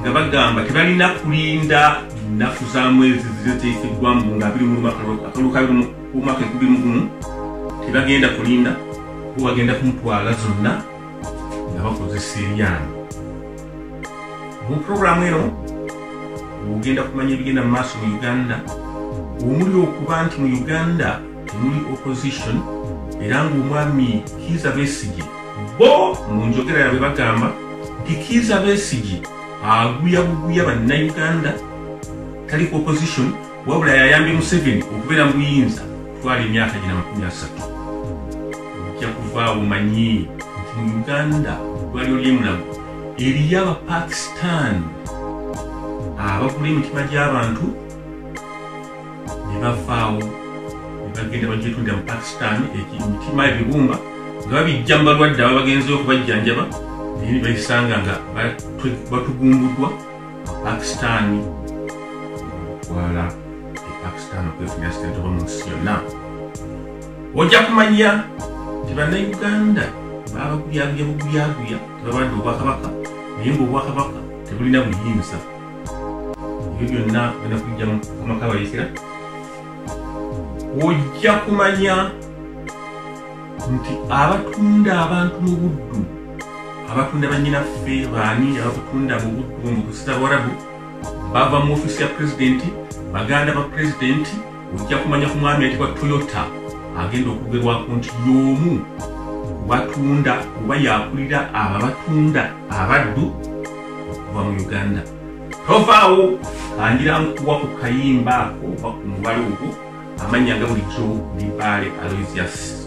nga bagamba tebalina kulinda nnaku za mwezi ziteekeddwamu nga biri mu lumaka akalulu ka omwaka enkumi mu gumu tebagenda kulinda bo bagenda kumutwala zonna nga bakozesa eryange mu puroguramu eno ogenda kumanya ebigenda mu maaso mu uganda omuli okuba nti mu uganda temuli opposition era ng'omwami kiiza besigye Bo mu njogera yabwe bagamba nti Kiiza Besigye aguya buguya bannayuganda tali ku opposition wabula yayambye Museveni okubeera mu buyinza twala emyaka gina makumi asatu ojja kuvaawo manyi nti mu Uganda gwalyo lyemulago eriyo Abapakistan abagula emitima gy'abantu ne bavaawo ne bagenda bagyetunda mu pakistan emitima ebibumba nga babijja mu balwadde aba bagenzeyo okubajjanjaba naye ne bayisanga nga batugumbuddwa pakistani okwala e pakistan okwefunira sente oba mu nsi yonna ojja kumanya nti bannayuganda babaguyaguya buguyaguya tebabadde obwakabaka naye ngaobwakabaka tebulina buyinza ebyo byonna genda kujja mukama kabayisira ojja kumanya nti abatunda abantu mu buddu abatunda banyinaffe baani abakutunda mu buddu mu busita bwarabu bava mu ofisi ya pulezidenti baganda ba pulezidenti ojja kumanya ku mwami ayitibwa toyota agenda okugerwako nti y'omu batunda oba yakulira abo abatunda abaddu okuva mu uganda tovaawo kangira nkuwa ku kayimba ako oba ku mubala ogwo amanya nga bulijjo libaale aloysius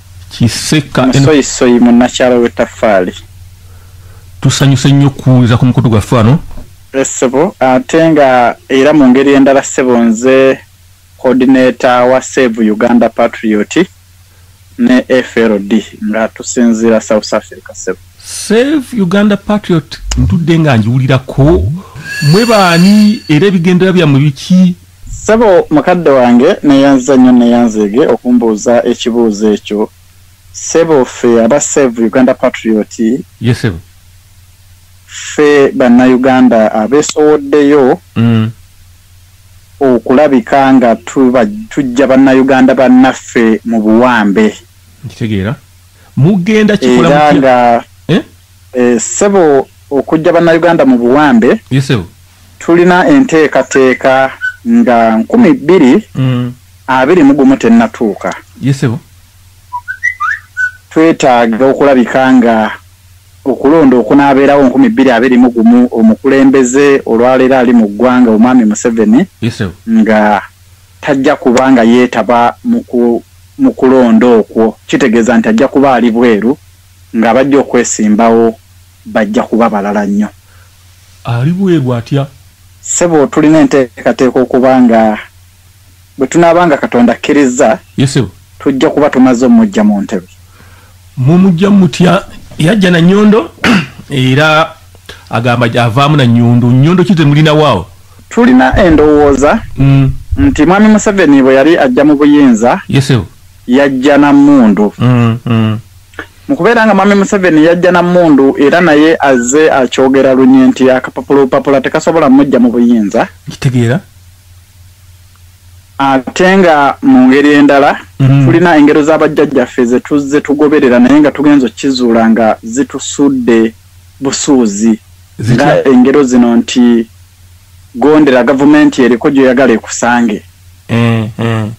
kiseka musoyisoyi munnakyalo w'ettaffaali tusanyuse nnyo okuwuliriza ku mukutu gwaffe wano eh, ssebo ate nga era mu ngeri endala ssebo nze coordinator wa save uganda patriot ne frd nga tusinziira south africa ssebo save uganda patriot ntudde nga njiwulirako mwe baani era ebigendera byammwe biki Ssebo mukadde wange neyanziza nnyo neyanzeege okumbuuza ekibuuzo ekyo ssebo ffe aba save Uganda patriot yes, sebo. ffe banna Uganda abesowoddeyo mm. okulabika nga tujja banna Uganda bannaffe mu buwambe nkitegeera mugenda kikola mutya Eh, ssebo okujja bannayuganda mu buwambe tulina enteekateeka nga nkumi bbiri mm. abiri mu gumu tennatuuka twetaaga okulabika nga okulonda okunaabeerawo nkumi bbiri abiri mu gumu omukulembeze olwaleero ali mu ggwanga omwami museveni nga tajja kuba nga yeetaba mu kulonda okwo kitegeeza nti ajja kuba ali bweru Ng'abajja okwesimbawo bajja kuba balala nnyo. Ali bweru atya? Ssebo, tulina enteekateeka okuba nga bwe tunaaba nga Katonda akkirizza, tujja kuba tumaze omuggya mu ntebe. Mumuggya mutya? Yajja na nnyondo era agamba avaamu na nnyondo. Nnyondo ki ze mulinawo awo? Tulina endowooza mm. nti Mwami Museveni bwe yali ajja mu buyinza, yajja na mmundu mm, mm. mu kubeera nga mwami museveni yajja na mmundu era naye azze akyogera lunye nti akapapula obupapula tekasobola mujja mu buyinza kitegeera ate nga mu ngeri endala mm. tulina engero z'abajjajjaffe zetuzze tugoberera naye nga tugenza okukizuula nga zitusudde busuuzi nga engero zino nti gondera gavumenti eriko gyoyagala ekusange mm, mm.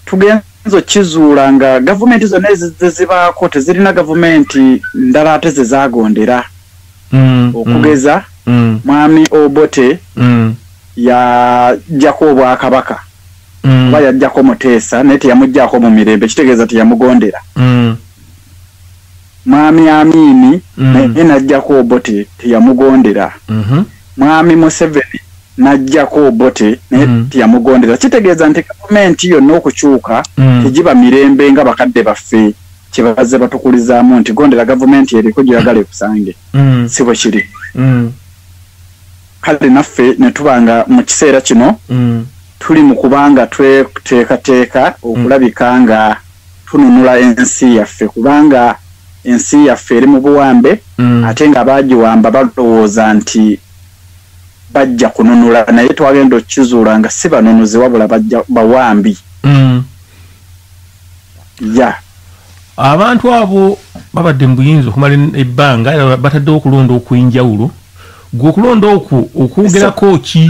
tugenze okizuula nga gavumenti zonna ezizze zibaako tezirina gavumenti ndala ate ze zaagondera mm, mm, okugeza mm. mwami obote mm. yajjako obwakabaka mm. oba yajjako muteesa naye teyamuggyako mu mirembe kitegeeza teyamugondera mm. Mwami Amiini mm. naye n'ajjako Obote teyamugondera. Mm-hmm. Mwami Museveni n'ajjako Obote naye mm. teyamugondera. Kitegeeza nti gavumenti yonna okukyuka mm. tegiba mirembe nga bakadde baffe kye bazze batukulizaamu nti gondera gavumenti eriko gyeyagala ekusange. Si bwe kiri. Kale naffe ne tuba nga mu kiseera kino tuli mu kubanga tweteekateeka okulabika nga tununula ensi yaffe kubanga ensi yaffe eri mu buwambe mm. ate nga baagiwamba balowooza nti bajja kununula naye twagenda okukizuula nga si banunuzi wabula bawambi mm. ya abantu abo babadde mu buyinza okumala ebbanga bataddewo okulonda okw'enjawulo gwe okulonda okwo okwogerako ki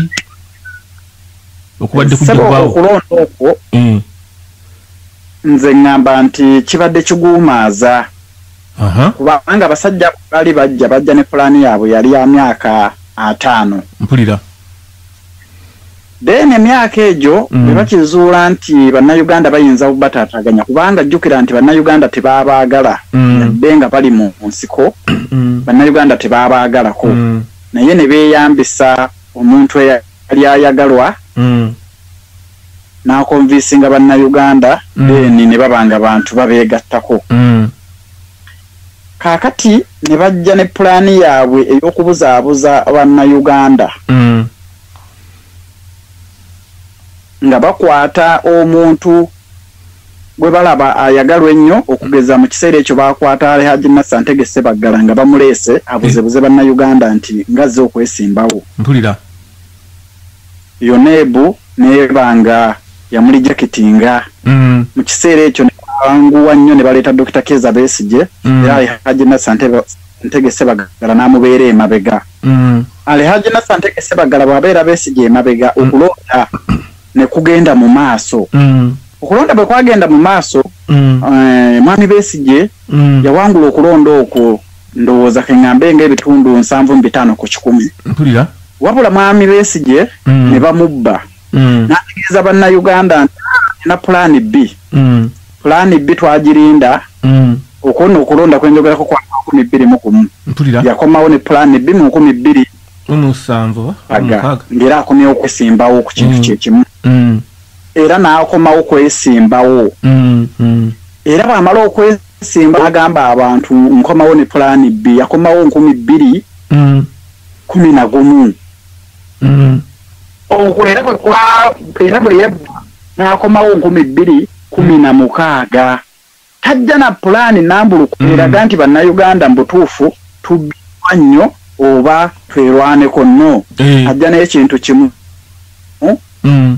okubadde kujjagwawo okulonda okwo mm. nze ŋŋamba nti kibadde kiguumaaza kubanga abasajja baali bajja bajja ne pulaani yaabwe yali ya myaka ataano mpulira then emyaka egyo mm. bebakizuula nti bannayuganda bayinza bubataataganya kubanga jjukira nti bannayuganda tebaabaagala mm. yadde nga bali mu nsiko mm. bannayuganda tebaabaagalako naye ne beeyambisa omuntu eya yali ayagalwa mm. nakonvinsinga bannayuganda mm. then ne baba nga bantu babeegattako mm. kaakati ne bajja ne pulaani yaabwe ey'okubuzaabuza bannayuganda mm. nga bakwata omuntu gwe balaba ayagalwa ennyo okugeza mu kiseera ekyo baakwata ali Haji Nasser Ntege Ssebaggala nga bamuleese abuzebuze eh. Bannayuganda nti ngazze okwesimbawo mpulira yoneebu neeba nga yamuli jakitinga mm. mu kiseera ekyo nebanguwa nnyo ne baleeta Dokita Keza Besigye mm. era ali Haji Nasser Ntege Ssebaggala n'amubeera emabega mm. ali Haji Nasser Ntege Ssebaggala bw'abeera Besigye emabega okulonda ne kugenda mu maaso mm. okulonda bwe kwagenda mu maaso mm. eh, mwami Besigye mm. yawangula okulonda okwo ndowooza ke ŋŋambe ng'ebitundu nsanvu mu bitaano ku kikumi wabula mwami Besigye mm. ne bamubba mm. n'ategeeza bannayuganda nti ah, na pulaani bbi mm. pulaani bbi twagirinda mm. okwona okulonda kwenjogerako kwa nkumi bbiri mu kumu yakomawo ne pulaani bbi mu nkumi bbiri mumusanvu aga ngera akomyewo kwesimbawo ku kintu mm. kyekimu mm. era n'akomawo kwesimbawo mm, era bwamala okwesimba agamba abantu nkomawo ne pulaani bbi yakomawo nkumi bbiri kumi na gumu okwo era era bwe yabba n'akomawo nkumi bbiri kumi na mukaaga Tajja na pulaani nambulukufu hmm. eraga nti bannayuganda mu butuufu tubbirwa nnyo oba twerwaneko no eh. ajja naye kintu kimu hmm? hmm.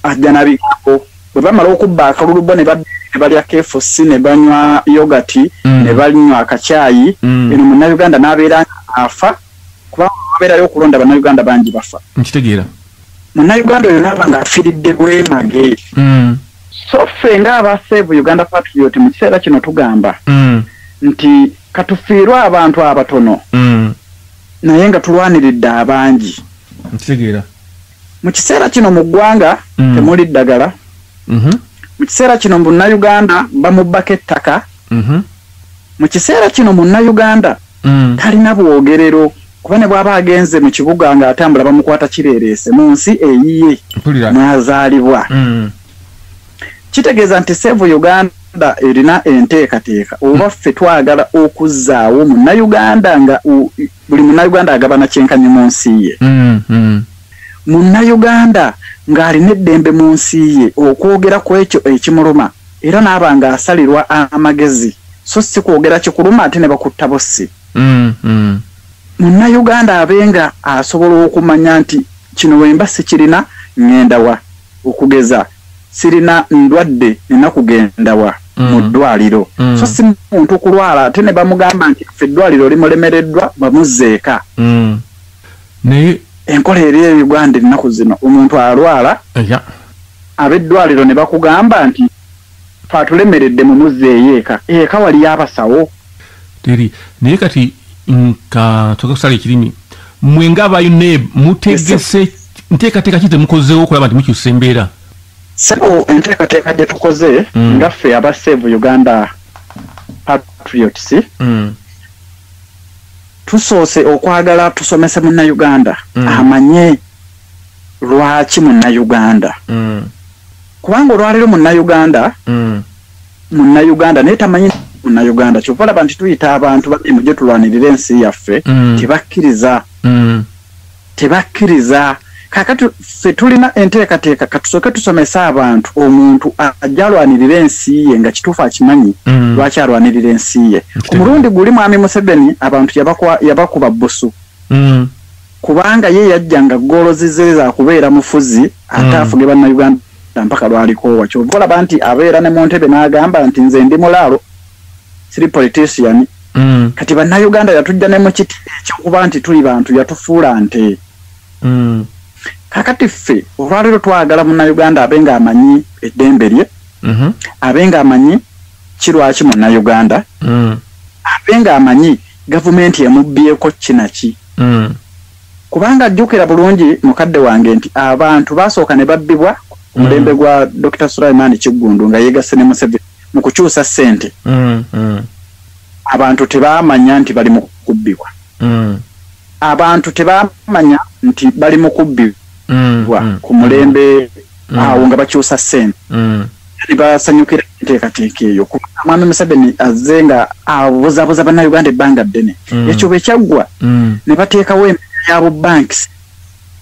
ajja na bigambo bwe bamala okubba akalulu bo ne balya kfc ne banywa yogati ne banywa akakyayi eno munnayuganda n'abeera afa kubanga abeerayo okulonda bannayuganda bangi bafa nkitegeera munnayuganda oyo naaba nga afiridde bwemage so ffe nga aba save uganda patriot mu kiseera kino tugamba mm. nti katufiirwe abantu abatono mm. naye nga tulwaniridde abangi nkitegeera mu kiseera kino mu ggwanga mm. temuli ddagala mm -hmm. mu kiseera kino munnayuganda bamubbako ettaka mm -hmm. mu kiseera kino munnayuganda mm. talina bwogerero kuba ne bwaba agenze mu kibuga nga atambula bamukwata kireereese mu nsi eyiye mwazaalibwa mm. kitegeeza nti sevu uganda erina enteekateeka oba ffe twagala okuzzaawo munnayuganda nga buli munnayuganda agabana kyenkanyi mu nsi ye mm, mm. munnayuganda ng'alina eddembe mu nsi ye okwogera ku ekyo ekimuluma era naaba nga asalirwa amagezi so si kwogera kikuluma ate ne bakutta bossi mm, mm. munnayuganda abe nga asobola okumanya nti kino wemba sikirina ngendawa okugeza sirina ndwadde nina kugendawa mm. mu ddwaliro mm. so si muntu kulwala ate ne bamugamba nti fe eddwaliro limulemereddwa bamuzzeeka mm. naye enkola eri e uganda ennaku zino omuntu alwala yeah. abeddwaliro ne bakugamba nti ffe atulemeredde mumuzzeeyo eka, eka waliyo abasawo? Teri. Naye kati nka toka kusala ekirimi mwe nga ba UNEB mutegese nteekateeka ki temukozeewo okulaba nti mukyusa embeera? Sebo enteekateeka gye tukoze mm. nga ffe aba Save Uganda Patriots mm. tusoose okwagala tusomese munnayuganda mm. amanye lwaki munnayuganda mm. kubanga olwaleero munnayuganda mm. munnayuganda naye tamanyi munnayuganda kyova laba nti tuyita abantu babi mujje tulwanirire ensi yaffe mm. tebakkiriza mm. tebakkiriza kakati ffe tulina enteekateeka katusooke tusomese abantu omuntu ajja alwanirira ensi ye nga kituufu akimanyi mm. lwaki alwanirira ensi ye ku mulundi guli mwami museveni abantu yabakuba busu mm. kubanga ye yajja nga ggoolo zizze za kubeera mufuzi ate hmm. afuge bannayuganda mpaka lwalikoowa kyova olaba nti abeera ne mu ntebe n'agamba nti nze ndi mulaalo siri politician hmm. kati bannayuganda yatujja ne mu kiti ekyokuba nti tuli bantu yatufuula nte hmm. kakati ffe olwaleero twagala munnayuganda abe nga amanyi eddembe lye mhm. abe nga amanyi kirwaki munnayuganda abe nga amanyi gavumenti emubbyeko kinaki mm. kubanga jjukira bulungi mukadde wange nti abantu basooka ne babbibwa ku mm. mulembe mm. gwa dr sulaiman kiggundu nga yegasse ne museveni mu kukyusa ssente mm, mm. abantu tebamanya nti bali mu kubbibwa mm. abantu tebamanya nti bali mu kubbibwa mm, mm, ku mulembe mm. awo nga bakyusa ssente mm. ne basanyukira enteekateeka eyo kuba mwami museveni azze nga abuzabuza bannayuganda ebbanga ddene mm. ekyo bwe kyaggwa mm. ne bateekawo embeera ya bubanks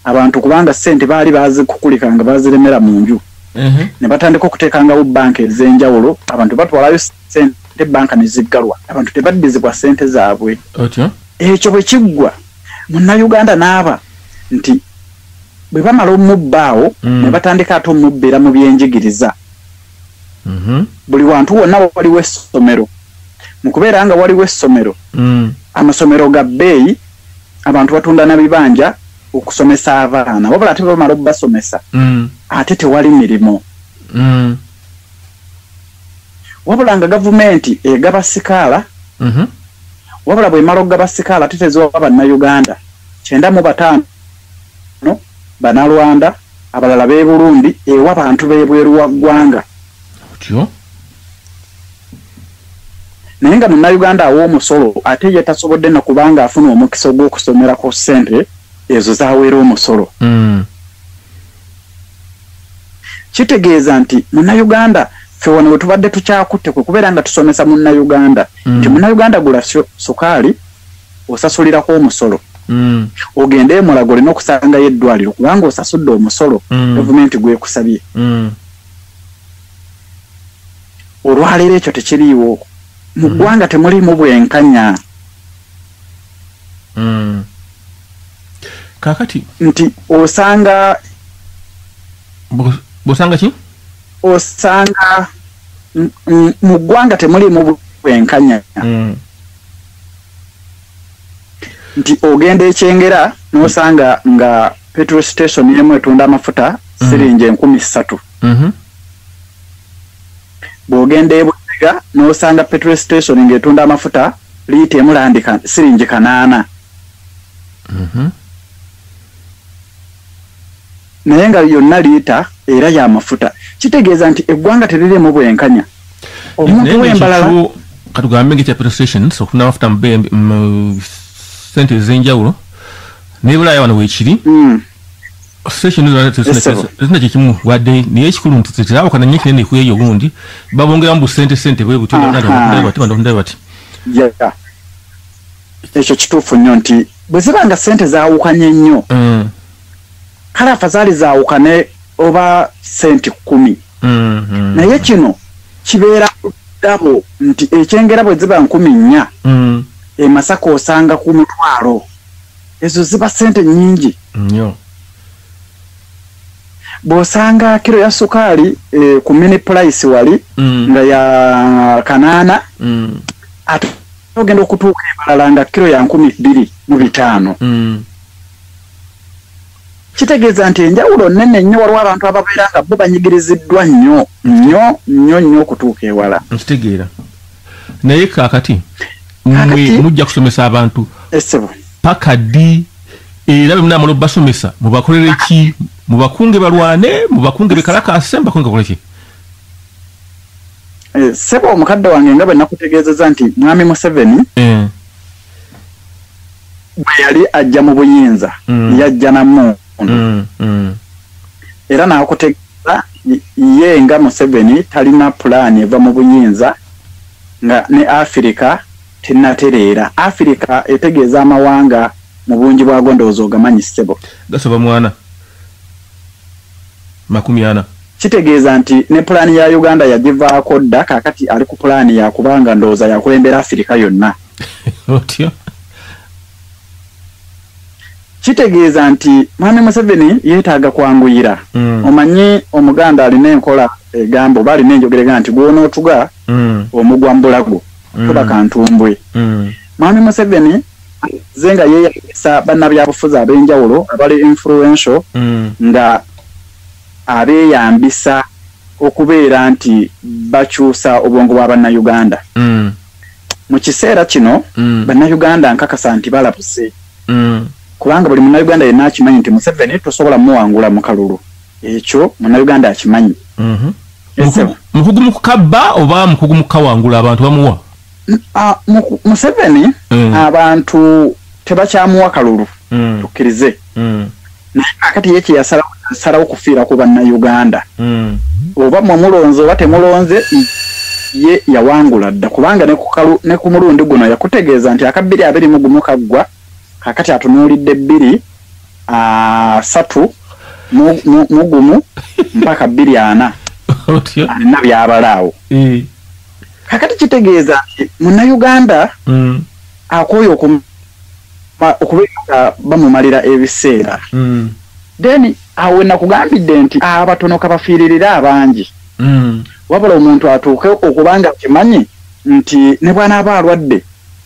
abantu kubanga ssente baali bazikukulika nga baziremera mu nju mm-hmm. ne batandika okuteekangawo banka ez'enjawulo abantu batwalayo sente banka ne ziggalwa abantu tebaddizibwa ssente zaabwe ekyo bwe kiggwa munnayuganda n'aba nti bwe bamala omubba awo mm. ne batandika ate omubbira mu byenjigiriza mm-hmm. buli wantu wonna waliwo essomero mu kubeera nga waliwo essomero mm. amasomero ga bbeeyi abantu batunda na bibanja okusomesa abaana wabula ate bamala okubasomesa mm. ate tewali mirimu mm. wabula nga gavumenti egaba sikaala mm-hmm. wabula bwemala okugaba sikaala ate teziwa bannayuganda kyenda mu bataano Bano Banalwanda, abalala b'e Burundi ewa bantu b'ebweru wa ggwanga. Otyo. Naye nga Munnayuganda awa omusolo ate ye tasobodde na kubanga afuna omukisa ogw'okusomera ku ssente ezo z'aweera omusolo. Mm. Kitegeeza nti Munnayuganda ffe wano we tubadde tukyakutte kwe kubeera nga tusomesa Munnayuganda mm. nti Munnayuganda gula sukaali osasulirako omusolo mm. ogende emulago olina okusangayo eddwaliro kubanga osasudde omusolo mm. gavumenti gwekusabye mm. olwaleero ekyo tekiriiwo mu mm. ggwanga mm. temuliimu bwenkanya mm. kakati nti osanga bosanga ki osanga mu ggwanga temuliimu bwenkanya mm. nti ogenda ekyengera nosanga nga petrol station emu etunda amafuta mm. siringi enkumi ssatu mm-hmm. bwogenda ebutega nosanga petrol station nga etunda amafuta liita emulandika siringi kanaana mm-hmm. naye nga yonna liita era ya mafuta kitegeeza nti eggwanga teririmu bwenkanya omuntu wembalala katugambe nga ekya petrol stations okufuna amafuta mu sente ezenjawulo naye bulaaya wano wekiri hmm. station zona tezina kyekimu wadde naye ekikulu nti tetabukana nyo kinene kweyo gundi babongeramu busente sente bwebutyobatibandondae bati ekyo kituufu nnyo nti bwe ziba nga sente zawukanye nnyo hmm. kale afazali zaawukane oba senti kkumi mm-hmm. naye kino kibeera dabo nti ekyengera bwe ziba nkumi nnya mm. emasaka osanga ku mutwalo ezo ziba sente nyingi nnyo bw'osanga kiro ya sukaali eh, ku mini pulaisi wali mm. nga ya kanaana mm. ate ogenda okutuuka ebalala nga kiro ya nkumi bbiri mu bitaano mm. kitegeeza nti enjawulo nnene nnyo waliwo abantu ababeera nga bo banyigiriziddwa nnyo nnyo nnyo nnyo okutuuka ewala nkitegeera naye kaakati mwe mujja kusomesa abantu esebo paka ddi era bwe munaamala obubasomesa mubakolere ki mubakunge balwane mubakunge bekalakaase mubakunge bakole ki eh, sebo omukadde wange nga bwe nakutegeezeza nti mwami museveni eh. bwe yali ajja mu buyinza mm. yajja na mundu mm, mm. era nakutegeeza ye nga museveni talina pulaani eva mu buyinza nga ne afirika tenatereera afirika etegeeza amawanga mu bungi bwago ndowooza ogamanyi ssebo gasoba mwana makumi ana Kitegeeza nti ne pulaani ya Uganda yagivaako dda kaakati ali ku pulaani ya kuba nga ndowooza yakulembera Afirika yonna. Otyo. Kitegeeza nti Mwami Museveni yeetaaga kwanguyira. Mm. Omanyi Omuganda alina enkola egamba oba alina enjogera egamba nti gw'onootuga mm. omugwa mu bulago mm. tuba kantumbwe. Mm. Mwami Museveni ze nga yeeyagisa bannabyabufuzi ab'enjawulo abali influential mm. nga abeeyambisa okubeera nti bakyusa obwongo bwa bannayuganda mm. mu kiseera kino mm. bannayuganda nkakasa nti balabuse mm. kubanga buli munnayuganda yenna akimanyi nti museveni tosobola muwangula mu kalulu ekyo munnayuganda akimanyi mhm. mukugu mu kukabba oba mukugu mu kukawangula abantu bamuwa museveni abantu tebakyamuwa kalulu tukkirize naye kakati ye kyeyasalawo kufiira ku bannayuganda hmm. oba mwe mulonze oba temulonze ye yawangula dda kubanga ne ku mulundi guno yakutegeeza nti akabbiri abiri mu gumu kaggwa kakati atunuulidde bbiri asatu mu gumu mpaka bbiri ana alina byabalaawo eh. kakati kitegeeza nti munnayuganda hmm. akooye okum okubeera nga bamumalira ebiseera mm. then awo wenakugambidde nti abatono kabafiiririre abangi mm. wabula omuntu atuuke okubanga akimanyi nti ne bwanaaba alwadde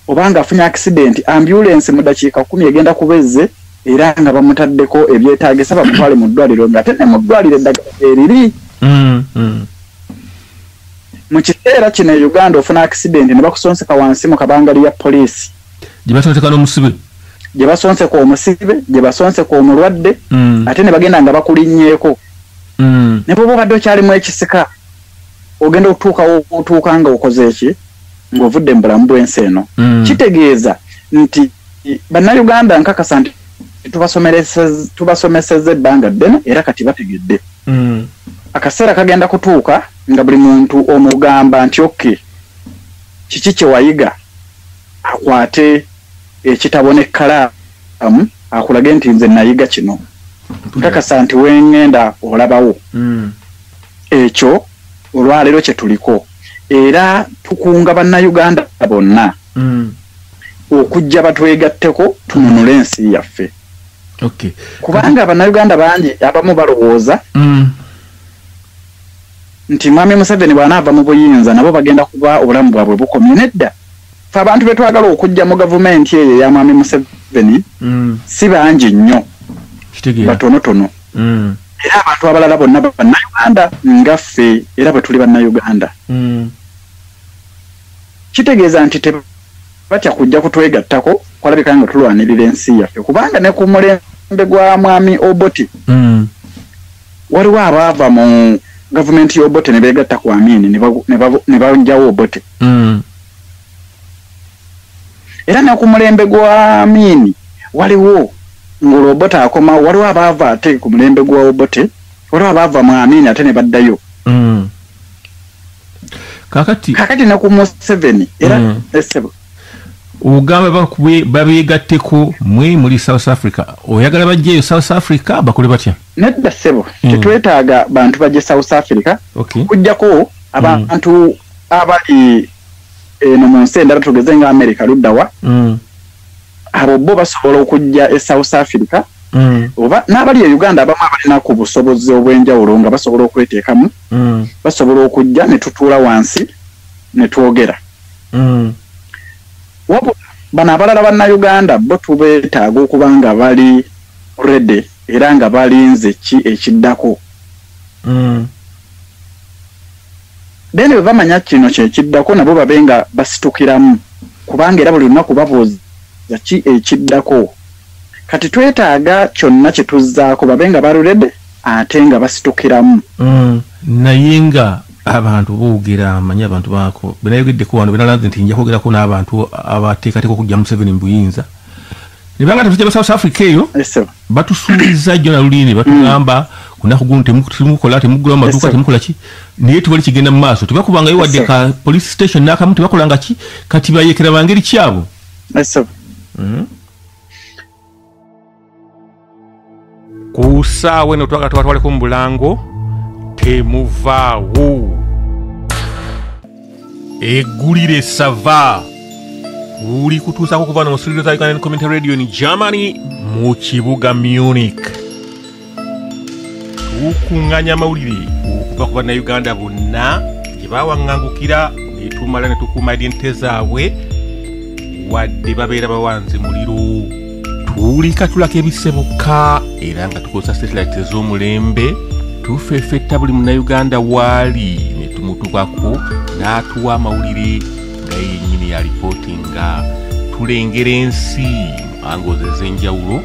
obanga afunye akisidenti ambulensi mu dakiika kumi egenda kuba ezze era nga bamutaddeko ebyetagisa bamutwale mu ddwaliro nga ate ne mu ddwaliro eddagala eriri mm, mm. mu kiseera kino e uganda ofuna akisidenti ne bakusonseka wansi mu kabangali ya poliisi gye basonseka n'omusibe gye basonseka omusibe gye basonseka omulwadde mm. ate ne bagenda nga bakulinnyeeko mm. ne bwoba obadde okyalimu ekisika ogenda okutuukawo otuuka nga okoze eki ng'ovudde mu bulamu bw'ensi eno mm. kitegeeza nti bannayuganda nkakasa nti tubasomeseza ebbanga ddene era kati bategedde mm. akaseera kagenda kutuuka nga buli muntu omugamba nti okke Kiki kye wayiga? Akwate ekitabo n'ekkalaamu akulage nti nze nayiga kino. Nkakasa nti we ŋŋenda olabawo. Hmm. Ekyo olwaleero kye tuliko era tukunga Bannayuganda bonna hmm. okujja batwegatteko tununule ensi yaffe. Kubanga Bannayuganda bangi abamu balowooza hmm. nti Mwami Museveni bw'anaava mu buyinza nabo bagenda kuba obulamu bwabwe bukomye. Nedda, ffe abantu be twagala okuggya mu gavumenti eyo eya Mwami Museveni mm. si bangi nnyo, batonotono mm. era abantu abalala bonna Bannayuganda nga ffe era bwe tuli Bannayuganda. Mm. Kitegeeza nti tebatya kujja kutwegattako kwalabika nga tulwanirira ensi yaffe kubanga ne ku mulembe gwa Mwami Obote Waliwo abaava mu gavumenti y'Obote ne beegatta ku Amin ne banjawo Obote. Hmm. Era ne ku mulembe gwa Amin waliwo ng'olwo Obote akomawo, waliwo abaava ate ku mulembe gwa Obote, waliwo abaava mu Amin ate ne baddayo. Hmm. Kakati. Kakati ne ku Museveni. Era hmm. esebo. Eh, ogamba babeegatteko mwe muli south africa oyagala bajjeeyo south africa bakole batya nedda ssebo mm. tetwetaaga bantu bajja e south africa okay. kujjako abantu mm. abali eno eh, mu nsi endala tugeze nga america luddawa mm. abo bo basobola okujja e south africa mm. oba n'abali e uganda abamu abalina ku busobozi obw'enjawulo nga basobola okweteekamu mm. basobola okujja ne tutuula wansi ne twogera mm. wabula bano abalala bannauganda bo tubeetaaga okuba nga bali rede era nga balinze ki ekiddako mm. then bwe bamanya kino kyekiddako nabo babe nga basitukiramu kubanga era buli lunaku babuuza ki ekiddako kati twetaaga kyonna kye tuzzaako babe nga balurede ate nga basitukiramu mm. naye nga abantu boogera amanyi abantu baako benayogeddeko wano benalaze nti nja kwogerako n'abantu abateekateeka okujja museveni mu buyinza ne banga tafite south africa eyo batusuubiza jona luli ne batugamba mm. kunaku guno temukola temugula amaduuka temukola ki naye tewali kigenda mu maaso tebakubangayo wadde ka police station nakamu tebakolanga ki kati bayekera bangeri kyabo mm. ku saawa eno twaga tubatwaleko mu bulango temuvaawo egulire sava uli kutuusako kuva no mu studio za ugandan community radio ni germany mu kibuga munich tukunganya amawulire okuva ku bannayuganda bonna gye bawaŋŋangukira ne tumala ne tukuuma identite zaabwe wadde babeera bawanze muliro tuwulikatulako ebisse bokka era nga tukozesa satelite ez'omulembe tufefetta buli munayuganda waali ne tumutubako n'atuwa amawulire nga yenyini ya lipooti nga tulengera ensi angozi ez'enjawulo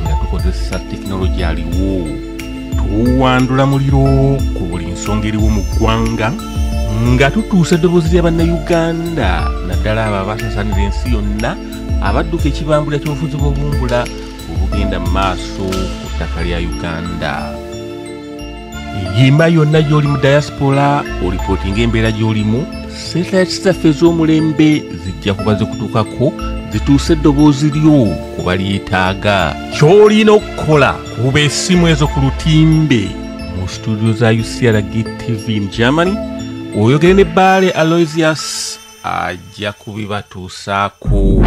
nga tukozesa tekinologi aliwo tuwandula muliro ku buli nsonga eriwo mu ggwanga nga tutuusa eddoboozi lya bannayuganda naddala abo abasasanira ensi yonna abadduka ekibambula ky'obufuzi bw'obumbula obugenda mu maaso ku ttaka lya uganda yimba yonna gy'oli mu diaspora olipooti ng'embeera gy'olimu setayaci zaffe ez'omulembe zijja kuba zikutuukako zituuse eddoboozi lyo ku balyetaaga ky'olina okukola kuba essimu ezo ku lutimbe mu situdio za ucrg tv in germany oyogere ne baale aloysius ajja kubibatuusaako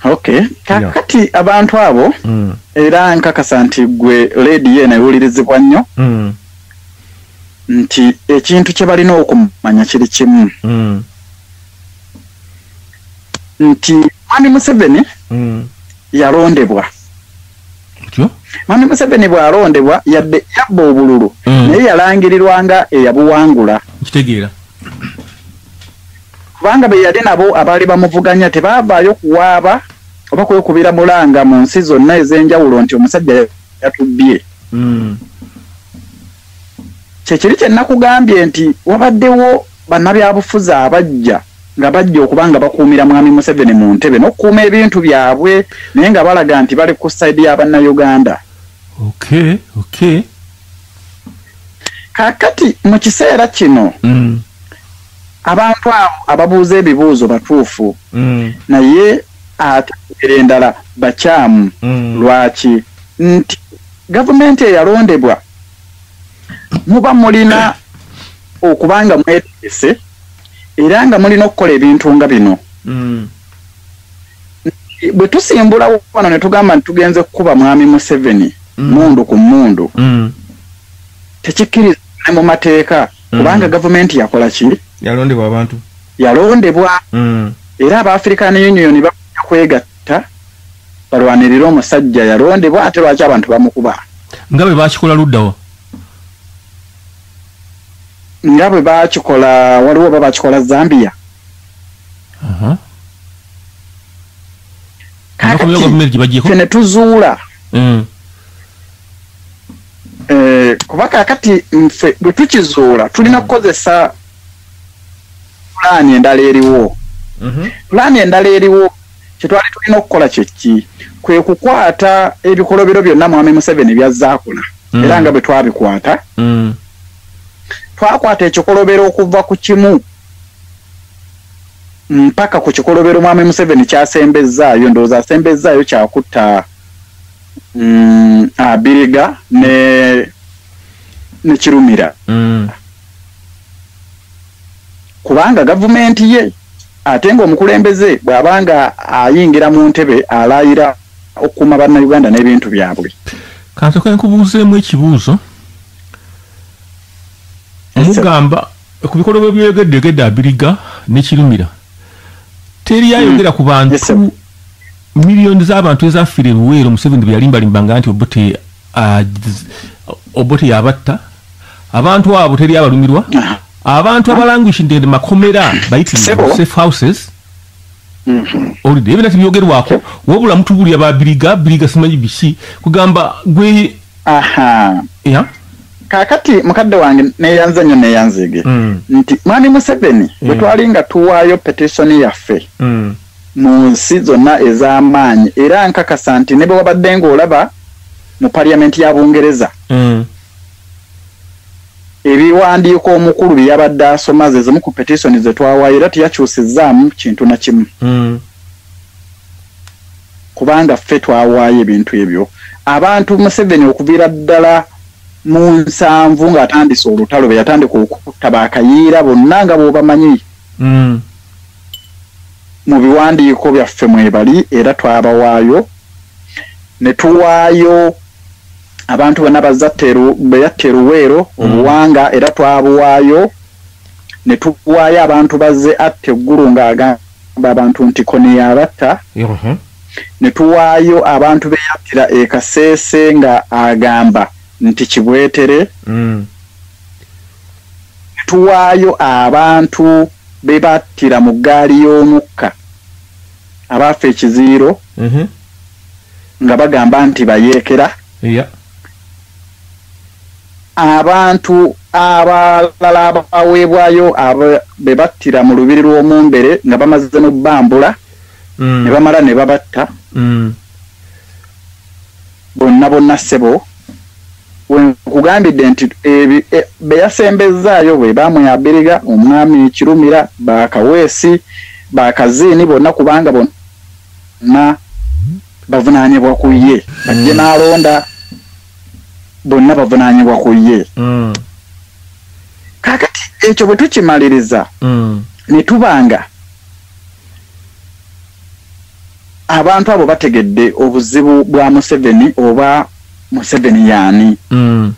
okay kakati yeah. abantu abo mm. era nkakasa nti gwe ledi yena ewulirizibwa nnyo mm. nti ekintu kye balina okumanya kiri kimu mm. nti mwami museveni mm. yalondebwa mwami museveni bwalondebwa yadde yabba obululu mm. naye yalangirirwa nga eyabuwangula kitegeera kubanga beyali nabo abaali bamuvuganya tebavaayo kuwaaba oba kwekubira mulanga mu nsi zonna ez'enjawulo nti omusajja yatubbye hmm. kyekiri kye nakugambye nti wabaddewo bannabyabufuzi abajja nga bajja okuba nga bakuumira mwami museveni mu ntebe n'okukuuma ebintu byabwe naye nga balaga nti bali ku sayidi ya bannayuganda okay, okay. kakati mu kiseera kino mm. abantu abo ababuuza ebibuuzo batuufu mm. naye ate era endala bakyamu mm. lwaki nti gavumenti eyalondebwa muba mulina okuba nga mwetegese era nga mulina okukola ebintu nga bino mm. bwe tusimbula wano ne tugamba nti tugenze kukuba mwami museveni mm. mundu ku mundu mm. tekikkiriza ne mu mateeka kubanga gavumenti yakola ki yalondebwa abantu yalondebwa era abaafrikani union bakuja kwegatta batta balwanirira omusajja yalondebwa ate lwaki abantu bamukuba nga bwe bakikola luddawa nga bwe bakikola waliwo oba bakikola zambia fe ne tuzuula mm. eh, kuba kakati nfe bwe tukizuula tulina mm. kukozesa pulaani endala eriwo pulaani mhm. endala eriwo kyetwali tulina okukola kyekki kwe kukwata ebikolobero byonna mwami museveni byazzaakula mm. era nga bwe twabikwata mm. twakwata ekikolobero okuva ku kimu mpaka ku kikolobero mwami museveni kyasembezzaayo ndowooza asembezzaayo kyakutta mm, abiriga ne nekirumira mm. kubanga gavumenti ye ate ng'omukulembeze bw'aba nga ayingira mu ntebe alaayira okukuuma bannayuganda n'ebintu byabwe kansoka nkubuuzeemu ekibuuzo mugamba ku bikolobwe byeyogedde yogedde abiriga nekirumira teri hmm. ayogera ku bantu miliyoni z'abantu ezafiira ebiweero museveni bwe yalimbalimbanga nti obote Ah, obote yabatta abantu abo teri abalumirwa abantu abalanguishinde ne makomera bayiti safe houses mhm. olide ebinati byogerwako wabula mutubulira ba biriga biriga simanyi biki kugamba gwe aha ya kakati mukadde wange neyanze nyo neyanzige mm. nti mwami museveni mm. bwetwalinga tuwaayo petitioni yaffe mm. mu nsi zonna ez'amaanyi era nkakasa nti ne bwe wabadde ng'olaba mu paliyamenti ya Bungereza mm. ebiwandiiko omukulu bye yabadde asoma ze zimu ku petisoni ze twawayo era teyakyusizzaamu kintu na kimu mm. kubanga ffe twawaayo ebintu ebyo abantu museveni okuviira ddala mu nsanvu ng'atandise olutalo be yatandika okutta bakayiira bonna nga bw'obamanyi mm. mu biwandiiko byaffe mwebali era twabawaayo ne tuwaayo abantu bonna bwe yatta eruweero mm. obuwanga era twabuwaayo ne tuwaayo abantu bazze atta eggulu ng'agamba abantu nti kone yabatta mhm. ne tuwaayo abantu be yattira e kaseese nga agamba nti kibwetere mm. tuwaayo abantu be battira mu ggaali y'omukka abaafa ekiziiro mhm. nga bagamba nti bayeekera abantu abalala abaweebwayo be battira mu lubiri lw'omumbere nga bamaze n'obbambula mm. ne bamala ne babatta mm. bonna bonna ssebo wenkugambidde nti e, beyasembezzaayo bwe bamwe abiriga omwami kirumira bakaweesi bakaziini bonna kubanga bonna bavunanyibwa ku ye bajje mm. nalonda bonna bavunanyibwa ku ye mm. kakati ekyo bwe tukimaliriza mm. netubanga Abantu abo bategedde obuzibu bwa Museveni oba Museveni yaani? Mm.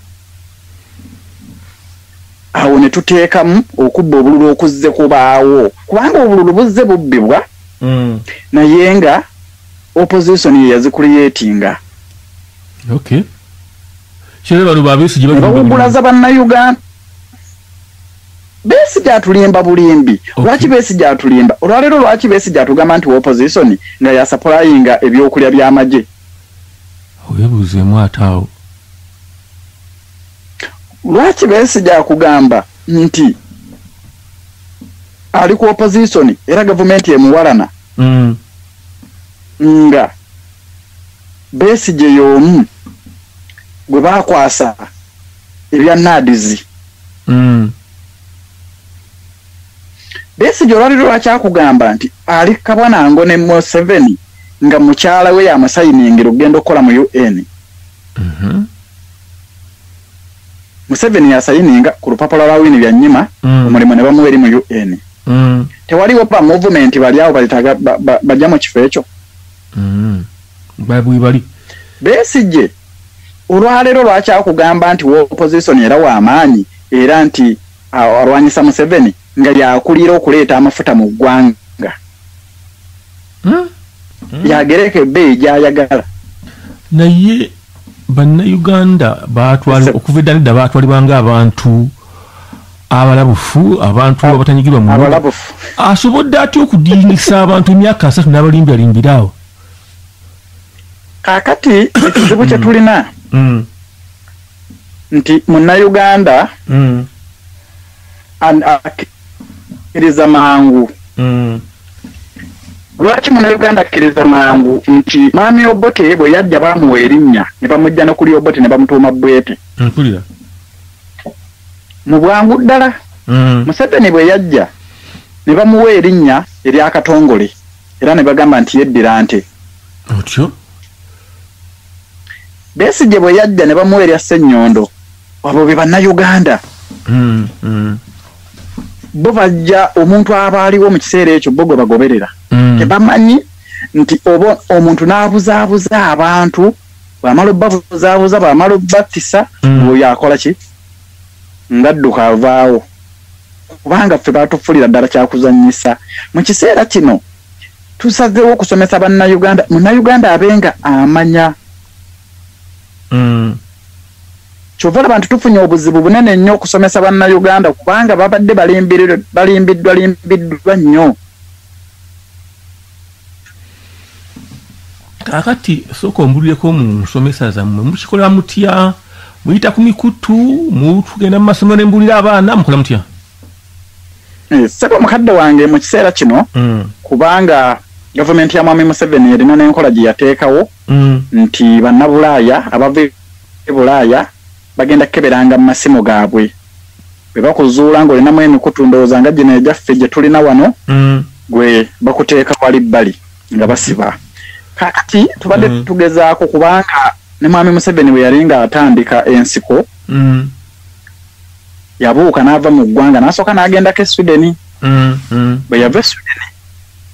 Awo ne tuteekamu okubba obululu okuzze kubaawo kubanga obululu buzze bubbibwa mm. naye nga opposition ye yazikuliyetinga okay. Kyebaluba abesigye bawugulaza bannayuganda Besigye atulimba bulimbi okay. Lwaki Besigye atulimba olwaleero? Lwaki Besigye atugamba nti opposition nga yasapulayinga ebyokulya by'amagye? Webuuzeemu ate awo. Lwaki Besigye akugamba nti ali ku opposition era gavumenti emuwalana mm. nga Besigye y'omu gwe baakwasa ebya naadizi mm. besigye olwaliro lwakyakugamba nti ali kabwa nango ne museveni nga mukyala we yamusayiningira okugenda okukola mu un mm -hmm. museveni yasayininga ku lupapula lwa wini byanyima mm. omulimu ne bamuwa eri mu un mm. tewaliwo ba movement bali awo bajja mu kifo ekyo mm. bwebali besigye olwaleero lwakyakugamba nti wopozisoni era wamaanyi era nti alwanyisa museveni nga yakulira okuleeta amafuta mu ggwanga hmm? Hmm? yagereka ebbeeyi gyayagala naye bannayuganda batwala okuva edda nedda batwalibwa nga abantu abalabufu abantu abatanyigirwa mu asobodde atya okudingisa abantu emyaka asatu n'abalimbiralimbiraawo kakati ekizibu kyetulina mm. nti munauganda mm. akiriza mangu mm. lwaki munauganda akkiriza mangu nti maami obote bwe yajja bamuwa erinnya ne bamujja no kuli obote ne bamutuuma bwete mpulira mu bwangu ddala mm. museveni bwe yajja ne bamuwa erinnya eryakatongole era ne bagamba nti yeddira nte otyo besigye bwe yajja ne bamuwa erya ssenyondo abo be bannayuganda mm, mm. bo bajja omuntu aba aliwo mu kiseera ekyo bo gwe bagoberera mm. tebamanyi nti oba omuntu n'abuzaabuza abantu bwamala obbabuzaabuza bwamala obbattisa mm. oyo akola ki ngadduka avaawo kubanga ffe baatufulira ddala kyakuzanyisa mu kiseera kino tusazeewo okusomesa bannayuganda munnayuganda abenga amanya mm. kyova olaba nti tufunye obuzibu bunene nnyo okusomesa bannayuganda kubanga babadde balimbiddwa limbiddwa nnyo kakati sooka ombulireko mu nsomesa zammwe mukikola mutya muyita ku mikutu mutugenda mu masomero ne mbulira abaana mukola mutya eh, sebo mukadde wange mu kiseera kino mm. kubanga gavumenti ya mwami museveni erina n'enkola gye yateekawo mm. nti bannabulaaya abava e bulaaya bagenda keberanga mumasimu gabwe bebakuzuula nga olinamu emikutu ndowooza nga gino egyaffe gyetulina wano mm. gwe bakuteeka wali bbali nga basiba kakati tubadde mm. tugezaako kubanga ne mwami museveni bwe yali nga atandika ensiko mm. yabuuka n'ava mu ggwanga n'asooka n'agendako e sweden mm, mm. bwe yava e sweden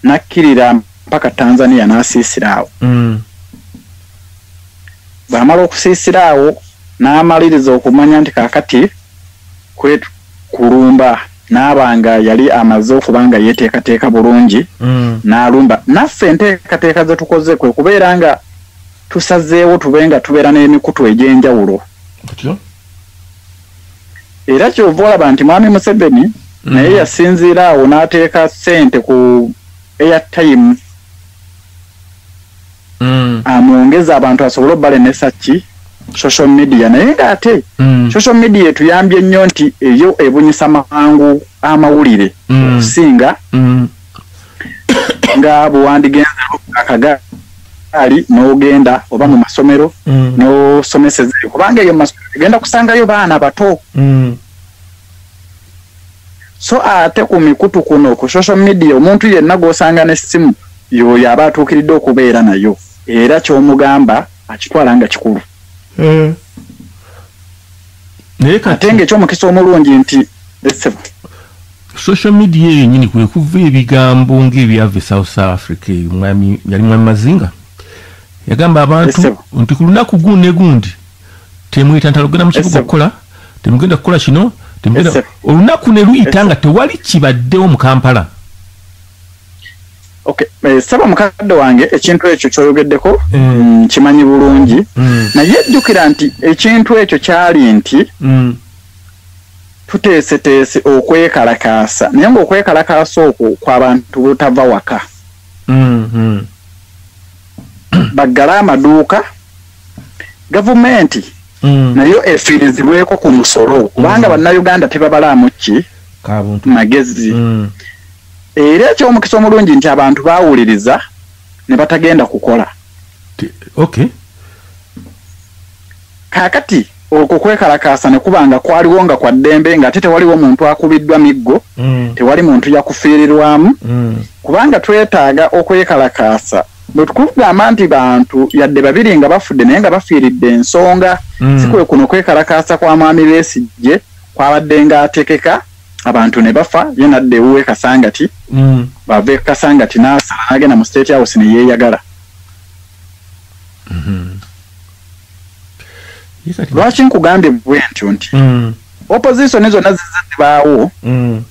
n'akkirira mpaka tanzania n'asiisira awo mm. bw'amala okusiisira awo n'amaliriza okumanya nti kaakati kwe kulumba n'aba nga yali amaze okuba nga yeeteekateeka bulungi mm. n'alumba naffe enteekateeka ze tukoze kwe kubeera nga tusazeewo tube nga tubeera n'emikutu egy'enjawulo era kyova olaba nti mwami museveni mm. naye yasinziira awo n'ateeka ssente ku airtime mm. amwongeza abantu asobole obalemesa ki social media naye nga ate mm. social media etuyambye nnyo nti eyo ebunyisa mangu amawulire mm. okusinga mm. mm. nga bwewandigenza akagaali n'ogenda oba mu masomero mm. n'osomeseza kubanga eyo mumasomero egenda kusangayo baana bato mm. so ate ku mikutu kuno ku social media omuntu yenna gw'osanga n'essimu yooyo aba atuukiridde okubeera nayo era ky'omugamba akitwala nga kikulu eh. ate nga eky'omukisa omulungi nti essebo social media eyo nyini kwe kuva ebigambo ng'ebyava e south africa yali mwami mazinga yagamba abantu nti ku lunaku gundi gundi temuyita ntalo genda mukibuga okukola temugenda kukola kino temugenda olunaku ne luyita nga tewali kibaddewo mu kampala Okay. Eh, saba mukadde wange ekintu ekyo kyoyogeddeko mm. mm kimanyi bulungi mm. naye jjukira nti ekintu ekyo kyali nti mm. tuteeseteese okwekalakaasa naye ngaokwekalakaasa okwo kwabantu butava waka mm -hmm. baggale amaduuka gavumenti mm. nayo efiirizibweko ku musolo mm. kubanga bannayuganda tebabalaamu ki magezi mm. era ekyomukisa omulungi nti abantu bawuliriza ne batagenda kukola okay kakati Okwo kwekalakaasa ne kuba nga kwaliwo nga kwa ddembe ng'ate tewaliwo muntu akubiddwa miggo, mm. tewali muntu yakufiirirwamu mm. kubanga twetaaga okwekalakaasa bwe tukugamba nti bantu yadde babiri nga bafudde naye nga bafiiridde ensonga mm. si kwe kuno kwekalakaasa kwa mwami besigye kwabadde ng'atekeka abantu ne bafa ye nadda ewuwe kasangati mm. bava ekasangati n'asala n'agenda mu state house ne yeeyagala mm -hmm. lwaki nkugambye bwe ntyo nti mm. opposition zonna zize zibaawo mm.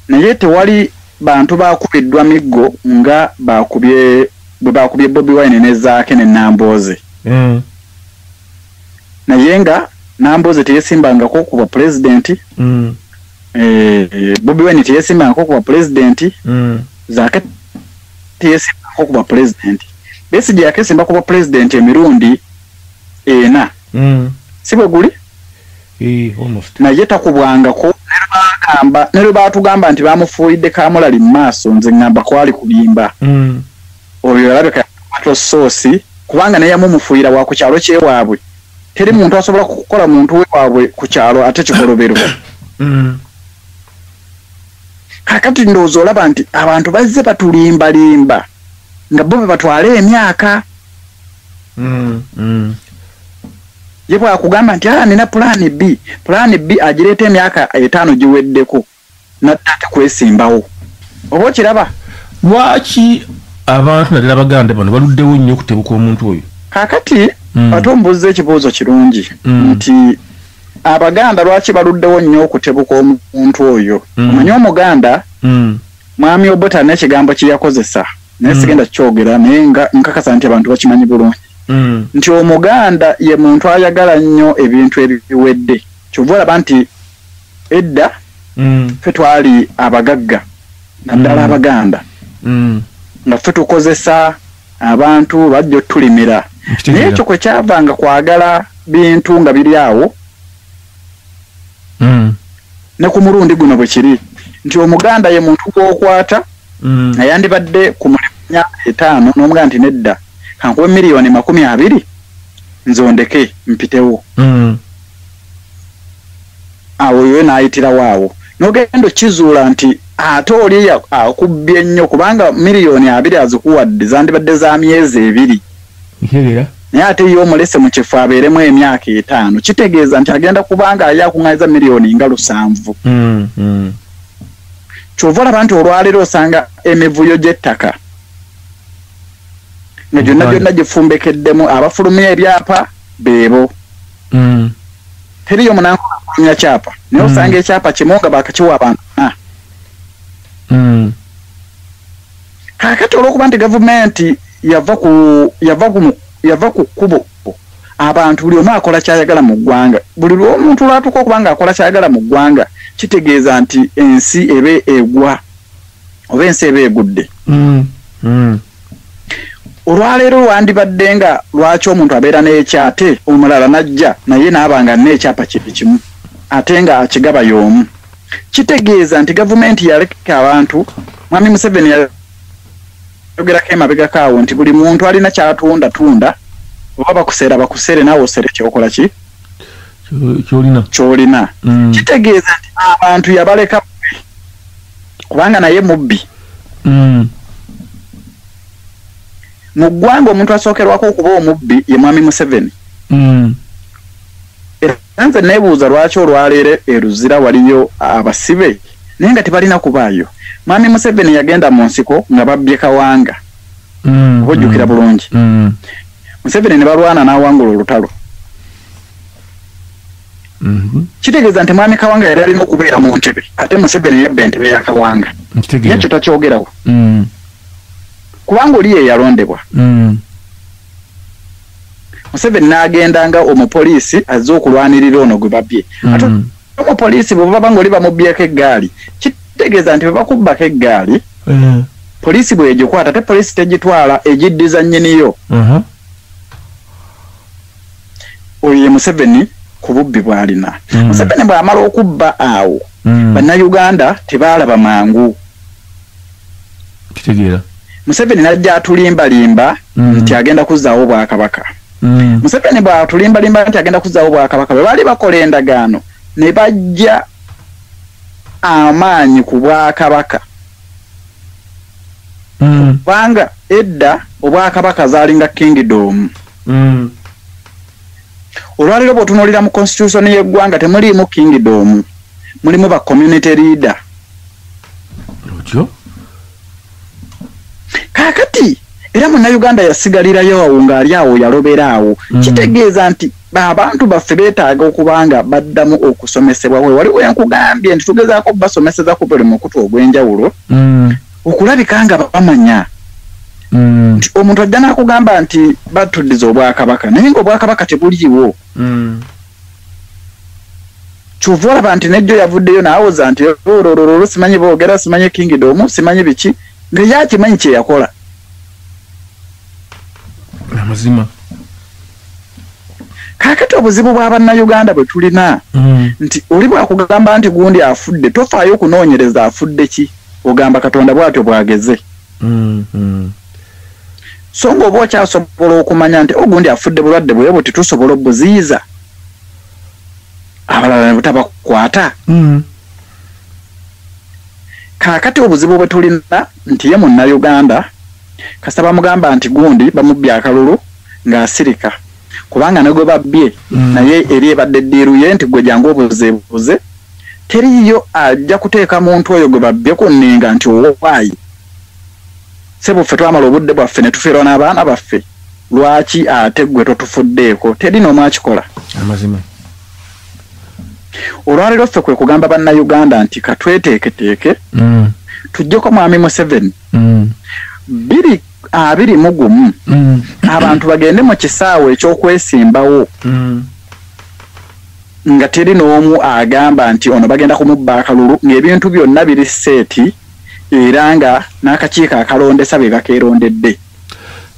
naye tewali bantu bakubiddwa miggo nga bakubye bwe bakubye bobi wine nezaake ne nambooze mm. naye nga nambooze teyesimbangako ku bwa pulezidenti mm. eh, bobi wine teyesimbangako ku bwa pulezidenti mm. zaake teyesimbako kuba pulezidenti besigye yakesimba kuba pulezidenti emirundi ena mm. si bwe guli eh, naye takubwangako nebagamba ne lwe baatugamba nti bamufuulidde kamulali mu maaso nze ŋŋamba kwali kulimba mm. oyo yalabika yato soosi kubanga naye yamumufuuyira wa ku kyalo kyewaabwe teri muntu asobola kukola muntu wewaabwe ku kyalo ate kikolobero mm. kakati ndowooza olaba nti abantu bazze batulimbalimba nga bo bebatwala emyaka mm, mm. ye bwakugamba nti aa ah, nina pulaani b pulaani b agireeta emyaka etaano giweddeko nadda ate kwesimbawo oba okiraba lwaki abantu naddala baganda bano baluddewo nnyo okutebuka omuntu oyo kakati mm. ate ombuuzza ekibuuzo kirungi mm. nti abaganda lwaki baluddewo nnyo okutebuka omuntu oyo mm. omanyi omuganda mm. mwami obota nekigambo kyeyakozesa naye mm. sigenda kukyogera naye nkakasa nti abantu bakimanyi bulungi mm. nti omuganda ye muntu ayagala nnyo ebintu ebiwedde kyova olaba nti edda mm. fe twali abagagga naddala mm. abaganda mm. nga fe tukozesa abantu bajja otulimira naye ekyo kwe kyavanga kwagala bintu nga biri awo mm. ne ku mulundi guno bwe kiri nti omuganda ye muntu gwokwata mm. nga yandibadde ku mulimu myaka etaano n'omuganda nti nedda kankuba miliyoni makumi abiri nzondeke mpitewo mm. awo yoyo n'ayitirawo awo n'ogenda okizuula nti ate oli akubbye ennyo kubanga miliyoni abiri azikuwadde zandibadde za myezi ebiri naye ate ye omulese mu kifo abeeremu emyaka etaano kitegeeza nti agenda kubanga aye akuŋŋanyiza miliyoni nga lusanvu mm, mm. kyova olaba nti olwaleero osanga emivuyo gy'ettaka nga gyonna gyonna gifumbekeddemu abafulumya ebyapa beebo mm. teriyo munanfulumya kyapa naye mm. osanga ekyapa kimu nga bakakiwa abantu na mm. kakati olwokuba nti gavumenti yava ku yava ku yava ku kkubo abantu buli omu akola kyayagala mu ggwanga buli lwomuntu lwatuuka okuba nga akola kyayagala mu ggwanga kitegeeza nti ensi eba egwa oba ensi eba egudde mm. mm. olwaleero lwandibadde nga lwaki omuntu abeera n'ekyate omulala n'ajja naye naaba nga nna ekyapa kyekimu ate nga akigaba y'omu kitegeeza nti gavumenti yaleka abantu mwami museveni yayogerako emabegako awo nti buli muntu alina kyatunda tunda oba bakuseera bakuseere naawe osere kyokola ki kyolina kyolina mm. kitegeeza nti abantu yabaleka kubanga naye mubbi mm. mu ggwanga omuntu asookerwako okuba omubbi ye mwami museveni mm. era nze nebuuza lwaki olwaleero eruzira waliyo abasibe naye nga tebalina kubaayo mwami museveni yagenda mu nsiko nga babbye kawanga mm, oba ojjukira mm, bulungi mm. museveni ne balwana n'awangula olutalo Mhm. kitegeeza nti mwami kawanga yali alina okubeera mu ntebe ate museveni yabba entebe ya kawanga yekyo takyogerawo mm. kubanga oli yeyalondebwa mm. museveni n'agenda nga omupoliisi azze okulwanirira ono gwe babye mm. ate omupoliisi bwe baba nga oli bamubyeko eggaali kitegeeza nti bwe bakubbako eggaali eh. poliisi bwegikwata ate poliisi tegitwala egiddiza nnyiniyo uh-huh. oyo ye museveni ku bubbi bwalina mm. museveni bwamala okubba awo mm. bannayuganda tebaalaba mangu kitegeera museveni najja atulimbalimba mm. nti agenda kuzzaawo obwakabaka mm. museveni bwatulimbalimba nti agenda kuzzaawo obwakabaka bwe baali bakola endagaano ne bajja amaanyi ku bwakabaka mm. kubanga edda obwakabaka zalinga kingdom mm. olwaliro bwotunulira mu constitution yeggwanga temuliimu kingdom mulimu ba community leader otyo kakati era munauganda yasigalirayo awo ng'ali awo yalobera awo mm. kitegeeza nti abantu baffe beetaaga okuba nga baddamu okusomesebwa we wali wenkugambye nti tugezaako basomeseza ku buli mukutu ogw'enjawulo mm. okulabika nga bamanya mm. nti omuntu ajja n'akugamba nti batuddiza obwakabaka naye ngaobwakabaka tebuliiwo mm. kyova olaba nti nejjo yavuddeyo naawoza nti ololololo simanyi boogera simanyi kingidomu simanyi biki nga yakimanyi kyeyakola amazima kakati obuzibu bwa bannayuganda bwe tulina mm. nti oli bwakugamba nti gundi afudde tofaayo okunoonyereza afudde ki ogamba katonda bwatyo bwageze mm, mm. so nga oba okyasobola okumanya nti ogundi afudde bulwadde bwe buti tusobola obuziyiza abalala ne butabakwata mm. kakati obuzibu bwe tulina nti ye munnayuganda kasita bamugamba nti gundi bamubbya akalulu ng'asirika kubanga ne gwe babbye mm. naye eri ebadde ddiiru ye nti gwe jangu obuzeebuze teriiyo ajja kuteeka muntu oyo gwe babbye ku nninga nti owaayi sebuffe twamala obudde bwaffe ne tufiirwa n'abaana baffe lwaki ate gwe totufuddeeko teri n'omu akikola amazima olwaleero ffe kwe kugamba bannayuganda nti katweteeketeeke mm. tujjeko mwami museveni mm. biri abiri mu gumu mm. abantu bagende mu kisaawe eky'okwesimbawo mm. nga teri n'omu agamba nti ono bagenda kumubba akalulu ng'ebintu byonna biri seeti era nga n'akakiiko akalondesa be bakeerondedde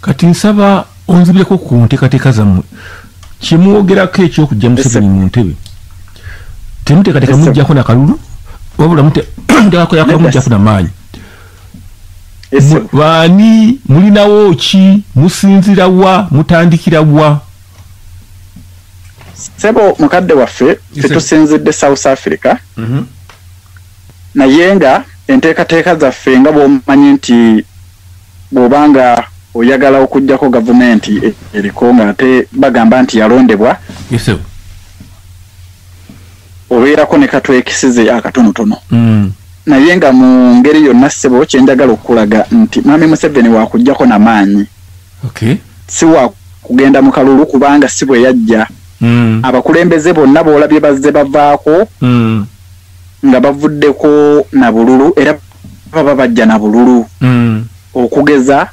kati nsaba onzibyeko ku nteekateeka zammwe kyemwogerako ekyokujja museveni mu ntebe temuteekateeka mujjako nakalulu wabula muteekakoyakamujjako namaanyi baani mulinawo ki musinzira wa mutandikira wa sebo mukadde waffe tetusinzidde south africa mhm. naye nga enteekateeka zaffe nga bwomanyi nti bwoba nga oyagala okugjako gavumenti e-, eriko nga ate bagamba nti yalondebwa obeerako ne katwekisize akatonotono mm. naye nga mu ngeri yonna ssebo kyenjagala okukulaga nti mami museveni wakugjako namaanyi okay. si wakugenda mu kalulu kubanga si bwe yajja mm. abakulembeze bonna boolabye bazze bavaako mm. nga bavuddeko na bululu era baba bajja na bululu mm. okugeza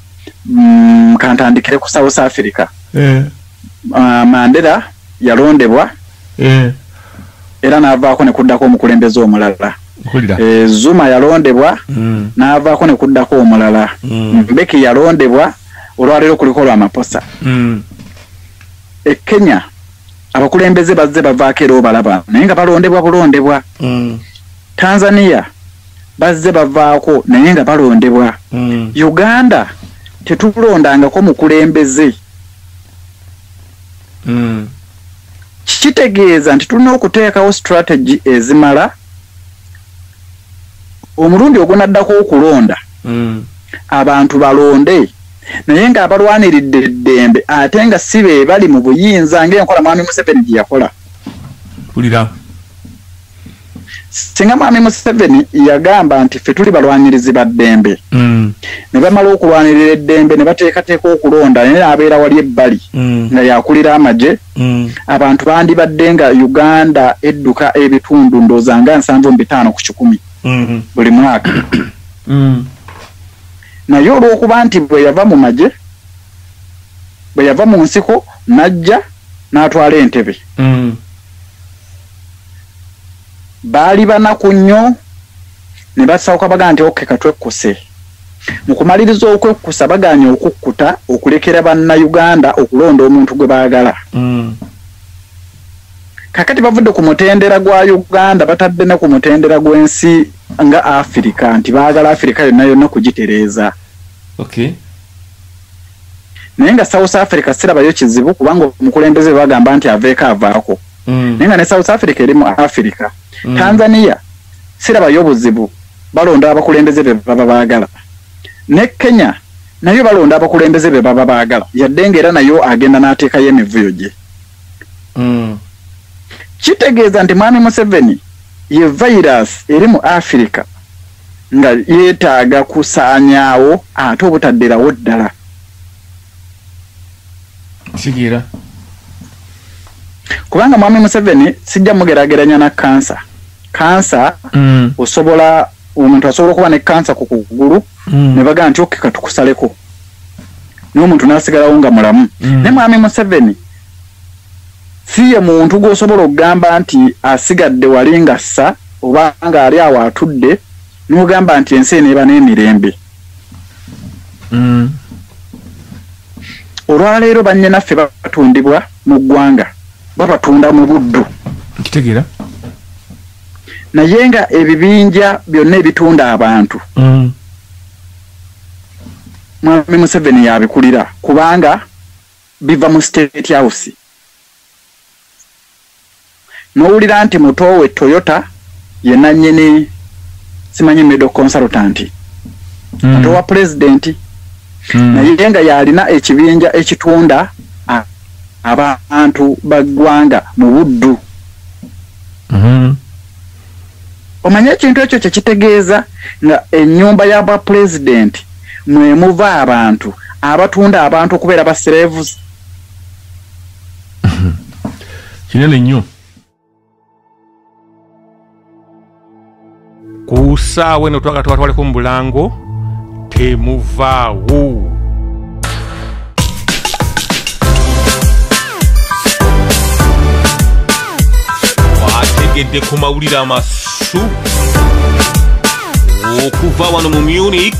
mm, kantandikire ku south africa yeah. uh, mandera yalondebwa eh. era n'avaako ne kuddako omukulembeze omulala eh, zuma yalondebwa mm. n'avaako ne kuddako omulala mm. mbeki yalondebwa olwaleero kuliko lwamaposa mm. e kenya abakulembeze bazze bavaako era obalaba naye nga balondebwa bulondebwa mm. tanzania bazze bavaako naye nga balondebwa mm. uganda tetulondangako mukulembeze mm. kitegeeza nti tulina okuteekawo strategy ezimala omulundi ogunaddako okulonda mm. abantu balonde naye ng'abalwaniridde eddembe ate nga si be bali mu buyinza ng'enkola mwami museveni gye yakola singa mwami museveni yagamba nti ffe tuli balwanirizi ba ddembe mm. ne bamala okulwanirira eddembe ne bateekateeka okulonda naye naabeera wali ebbali mm. nga yakulira amagye mm. abantu bandibadde nga uganda edduka ebitundu ndooza nga nsanvu mu bitaano ku kikumi mm-hmm. buli mwaka naye olw'okuba nti bwe yava mu magye bwe yava mu nsiko n'ajja n'atwala entebe baali banaku nnyo ne basawuka bagamba nti oke katwekkuse mu kumaliriza okwekkusa bagaanye okukkuta okulekera bannayuganda okulonda omuntu gwe baagala mm. kakati bavudde ku mutendera gwa uganda batadde ne ku mutendera gw'ensi nga afirika nti baagala afirika yonna yonna kugitereeza naye nga south africa sirabayo kizibu kubanga omukulembeze bagamba nti aveeko avaako mm. naye nga ne south africa eri mu africa mm. tanzania sirabayo obuzibu balonda abakulembeze be baba baagala ne kenya nayo balonda abakulembeze be baba baagala yadde nga era nayo agenda n'ateekayo emivuyo gye mm. kitegeeza nti mwami museveni ye virus eri mu africa nga yeetaaga kusaanyaawo ate obutaddirawo ddala kitegeera kubanga mwami museveni sijja mugerageranya na kansa kansa mm. osobola omuntu asobola okuba ne kansa ku kugulu mm. ne bagamba nti okeka tukusaleko naye omuntu nasigalawo nga mulamu mm. naye mwami museveni si ye muntu gwosobola okugamba nti asigadde wali nga ssa oba nga ali awo atudde n'ogamba nti ensi eneeba n'emirembe mm. olwaleero bannyanaffe batundibwa mu ggwanga babatunda mu buddu nkitegera naye nga ebibinja byonna ebitunda abantu mm. mwami museveni yabikulira kubanga biva mu state house nowulira nti muto we Toyota ye nannyini simanyi medo consultant mm. muto wa pulezidenti mm. naye nga yalina ekibinja ekitunda abantu baggwanga mu buddu mm -hmm. omanye ekintu ekyo kyekitegeeza nga enyumba ya bwa pulezidenti mwemuva abantu abatunda abantu okubeera ba serevuzi kinene nnyo ku saawa eno twagala tubatwaleko mu bulango temuvaawo ategedde ku mawulire amasu okuva wano mu munich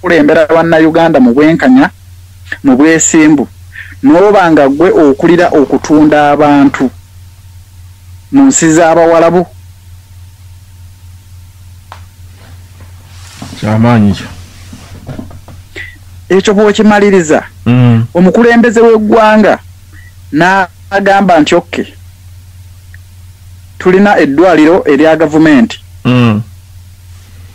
kulembera bannayuganda mu bwenkanya mu bwesimbu n'oba nga gwe okulira okutunda abantu mu nsi z'abawalabu kyamaanyi kyo ekyo bw'okimaliriza mm. omukulembeze w'eggwanga n'agamba nti okke tulina eddwaliro erya gavumenti mm.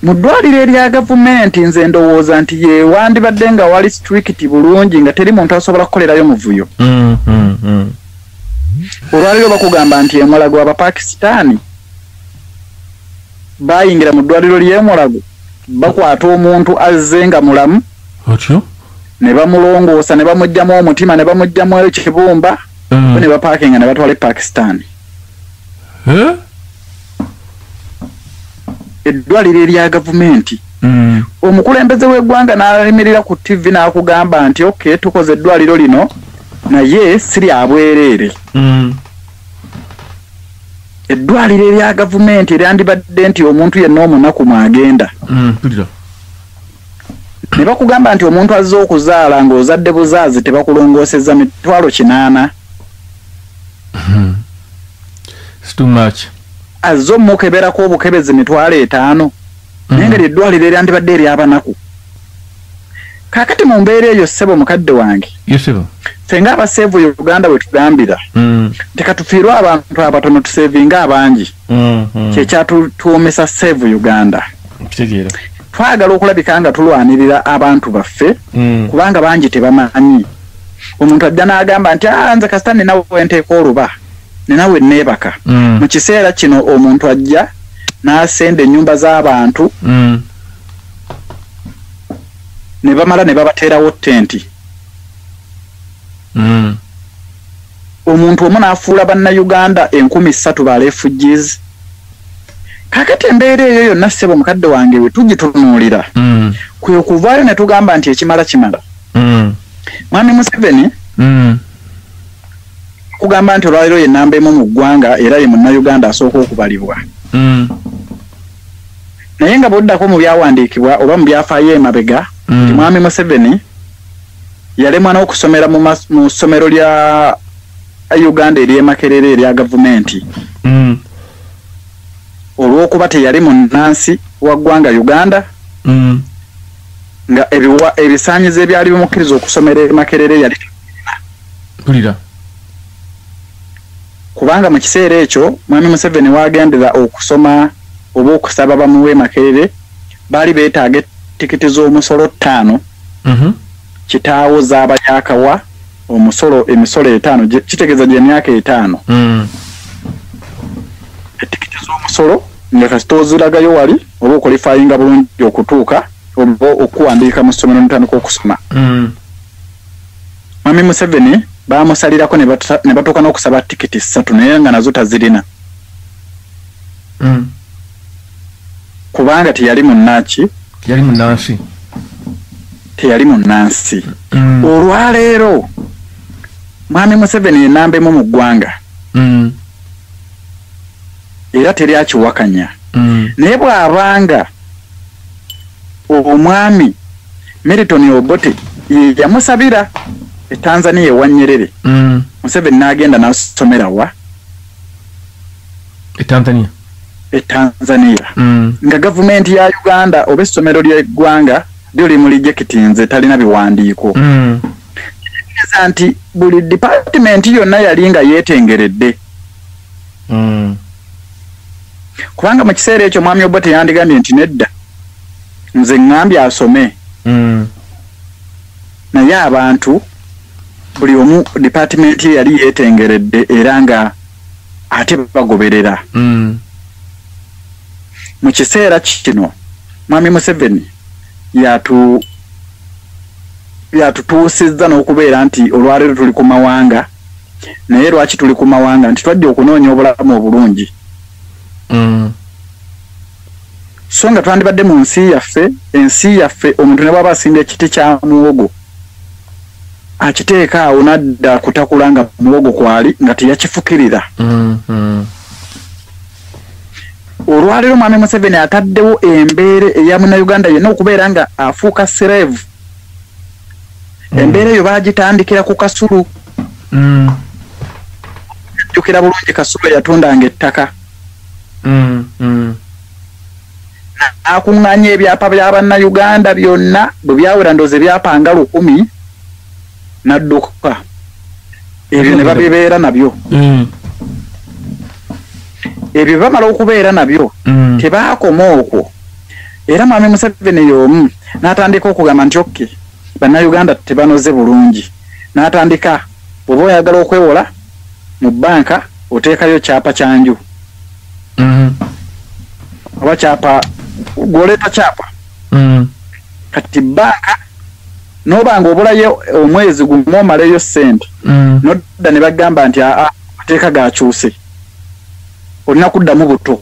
Mu ddwaliro erya gavumenti nze ndowooza nti ye wandibadde nga wali siturikiti bulungi nga teri muntu asobola kukolerayo muvuyo. Mm, mm, mm. Olwaliro bakugamba nti emulago Abapakisitaani bayingira mu ddwaliro ly'emulago bakwata omuntu azze nga mulamu otyo ne bamulongoosa ne bamugyamu omutima ne bamugyamu ekibumba mm. ne bapaakinga ne batwala e Pakisitaani. Eh? eddwaliro erya gavumenti mm. omukulembeze w'eggwanga n'alemerera ku ttivi n'akugamba nti oke tukoze eddwaliro lino naye si lya bwereere mm. eddwaliro erya gavumenti eryandibadde nti omuntu yenna omunaku mwagenda mm, ne bakugamba nti omuntu azze okuzaala ng'ozadde buzaazi tebakulongoosezza mitwalo kinaana hmm. It's too much. Azze omukeberako obukebezi mitwalo etaano mm. naye nga lyeddwaliro eryandibadde eryabanaku kakati mu mbeera eyo ssebo mukadde wange ffe nga abaseevu uganda we tugambira mm. nti katufiirwe abantu abatono tuseevinga abangi mm, mm. kyekyatuwoomesa seevu uganda twagala okulabika nga tulwanirira abantu baffe kubanga bangi tebamanyi omuntu ajja n'agamba nti ah, nze kasita ninawe nteeka oluba nina we neebaka mm. mu kiseera kino omuntu ajja n'asenda ennyumba z'abantu mm. ne bamala ne babateerawo tenti mm. omuntu omu n'afuula bannayuganda enkumi ssatu ba refugees kakati embeera eyo yonna ssebo mukadde wange we tugitunuulira mm. kwe kuvaayo ne tugamba nti ekimala kimala mm. mwami museveni mm. kugamba nti olwaleero ye namba emu mu ggwanga era ye munnayuganda asooka okubalibwa mm. naye nga bwoddako mu byawandiikibwa oba mu byafaayo emabega mm. nti mwami museveni yalemwa n'okusomera mu ssomero lya uganda eryemakerera erya gavumenti mm. olw'okuba teyali munnansi wa ggwanga uganda nga ebisaanyizo ebyali bimukkiriza okusomera emakerere yali mpulira kubanga mu kiseera ekyo mwami museveni waagendera okusoma oba okusaba bamuwa emakerere baali beetaaga etikiti z'omusolo ttaano mhm. kitaawo zaaba yakawa omusolo emisolo etaano kitegeeza gye myaka etaano mm. etikiti z'omusolo nga kasita oziragayo wali oba okolifayinga bulungi okutuuka oba okuwandiika mu ssomero notandika okusoma mm. Mwami Museveni baamusalirako ne batuuka n'okusaba tikiti ssatu naye nga nazo tazirina hmm. kubanga teyali munnaki teyali munnansi teyali munnansi hmm. olwaleero mwami Museveni enamba emu mu ggwanga hmm. era teri akiwakanya naye bw'abanga omwami Milton Obote ye yamusabira e Tanzania ewa Nyerere mm. Museveni n'agenda n'asomera wa e Tanzania e Tanzania mm. nga gavumenti ya Uganda oba essomero ly'eggwanga lyo limulijekitinze talina biwandiiko mm. kitegeeza nti buli dipatimenti yonna yali nga yeetengeredde mm. kubanga mu kiseera ekyo mwami obote yandigambye nti nedda nze ŋŋambye asome mm. naye abantu buli omu dipatimenti ye yali yeetengeredde era nga ate bagoberera mm. mu kiseera kino mwami museveni yatu yatutuusizza n'okubeera nti olwaleero tuli ku mawanga naye lwaki tuli ku mawanga nti twajja okunoonya obulamu obulungi mm. so nga twandibadde mu nsi yaffe ensi yaffe omuntu ne bwaba asimba ekiti kya muwogo akiteeka awo nadda kutakula nga muwogo kwali nga teyakifukirira mm, mm. olwaleero mwami museveni ataddewo embeera eya munauganda yenna okubeera nga afuuka serevu mm. embeera eyo baagitandikira ku kasulu mm. jjukira bulungi kasulu eyatundanga ettaka mm, akuŋŋanya ebyapa bya bannayuganda byonna bwe byawera ndoozi ebyapa nga lukumi n'adduka ebyo ne babibeera nabyo ebyo bamala okubeera nabyo tebaakoma okwo era mwami museveni y'omu n'atandika okugamba nti okke bannayuganda tebanoze bulungi n'atandika bw'oba oyagala okwewola mu bbanka oteekayo kyapa kya nju mm-hmm. oba kyapa gw'oleeta kyapa mm-hmm. kati bbanka n'oba nga obulayo omwezi gumu omaleyo ssente mm-hmm. nodda ne bagamba nti aa mateeka gakyuse olina kuddamu buto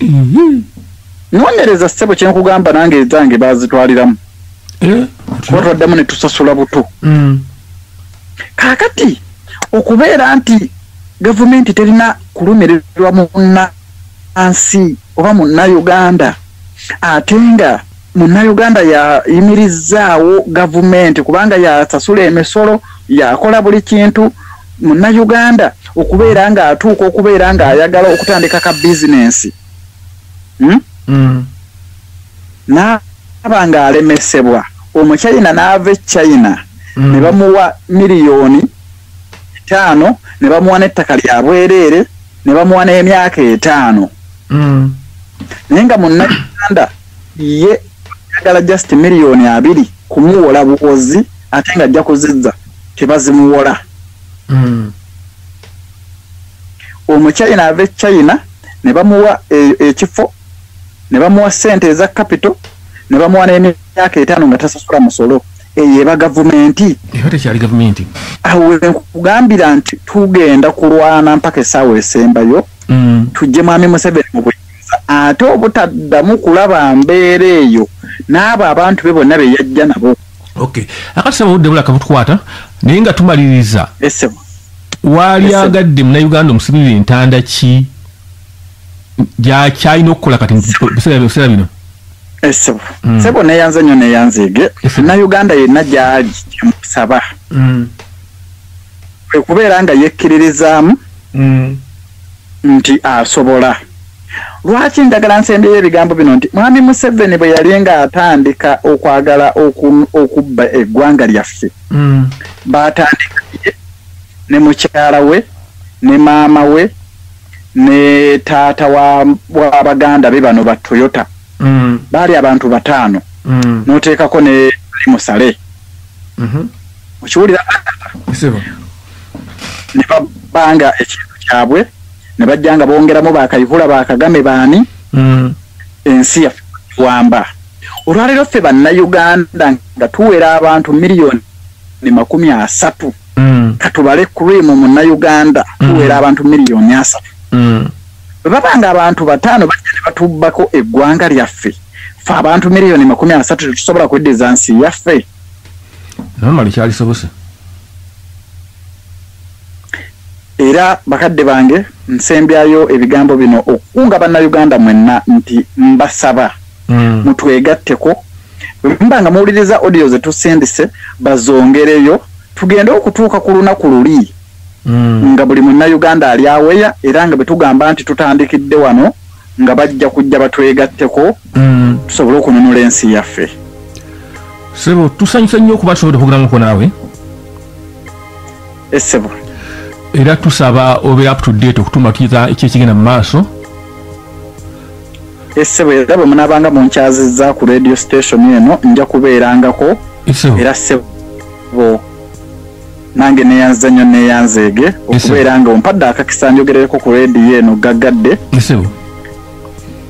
mhm. nonyereza ssebo kyenkugamba nange ezange bazitwaliramu eh, kuba twaddemu ne tusasula buto mm. kakati okubeera nti gavumenti terina kulumirirwa munansi oba munnauganda ate nga munnayuganda yayimirizzaawo gavumenti kubanga yasasula emisolo yakola buli kintu munnayuganda okubeera ng'atuuka okubeera ng'ayagala okutandika ka bizinensi hmm? mm. n'aba ng'alemesebwa omuchina n'ava e china mm. ne bamuwa miliyoni etaano ne bamuwa n'ettaka lya bwereere ne bamuwa n'emyaka etaano mm. naye nga munnayuganda ye ayagala just miliyoni abiri kumuwola buwozi ate nga ajja kuzizza tebazimuwola hmm. omuchina ava echina ne bamuwa e, ekifo ne bamuwa sente eza kapito ne bamuwa n'emyaka etaano nga tasasula musolo eyo eba gavumenti awo nkugambira nti tugenda kulwana mpaka esaawa esembayo hmm. tujje mwami museveni mu buli ate obutaddamu kulaba mbeera eyo n'abo abantu be bonna be yajja nabo okay akati saba obudde bulaka butukwata naye nga tumaliriza waali agadde munauganda omusibirira entanda ki gyakyalina okukola kati biseera bino esebo hmm. sebo neyanze nyo neyanzege na uganda yenna gyali kyemusaba hmm. kwekubeera nga yekkiririzaamu hmm. nti asobola. Lwaki njagala nsembyeyo ebigambo bino nti Mwami Museveni bwe yali ng'atandika okwagala okubba eggwanga lyaffe, mm. baatandika ne mukyala we ne maama we ne taata wa baganda be bano ba Toyota. Mm. Baali abantu bataano mm. n'oteekako ne musale. Mm-hmm. okiwulira ne babanga ekintu kyabwe ne bajja nga bongeramu bakayihula bakagame baani mm. ensi yaffe wamba olwaleero ffe bannayuganda nga tuwera abantu miliyoni ne makumi asatu mm. katubale cream munnayuganda mm. tuwera abantu miliyoni asatu bwe baba nga abantu bataano bajja ne batubbako eggwanga lyaffe fe abantu miliyoni makumi asatu tetusobola kweddiza nsi yaffe namali kyalisobose era bakadde bange nsembyayo ebigambo bino okukunga bannayuganda mwenna nti mbasaba mm. mutwegatteko bwemba nga muwuliriza audio zetusindise bazongereyo tugende okutuuka ku lunaku luli mm. nga buli munnayuganda ali aweya era nga bwetugamba nti tutandikidde wano nga bajja kujja batwegatteko mm. tusobole okununula ensi yaffe sebo tusanyusa nnyo okuba tusobode okugeramuko naawe esebo eh, era tusaba obe up to date okutumakiza ekyekigenda mu maaso esebo eh, era bwe munabanga munkyaziza ku radio station eno nja kubeerangako era sebo nange neyanziza nnyo neyanzeege okubeera nga ompadde akakisa njogerereko ku rediyo eno gaggadde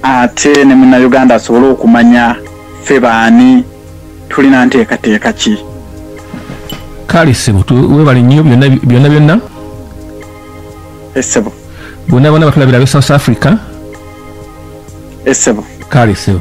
ate ne munauganda asobole okumanya ffe baani tulina nteekateeka ki kale ssebo webale nnyo byonna byonna essebo bonna bona batulabira be south africa essebo kale ssebo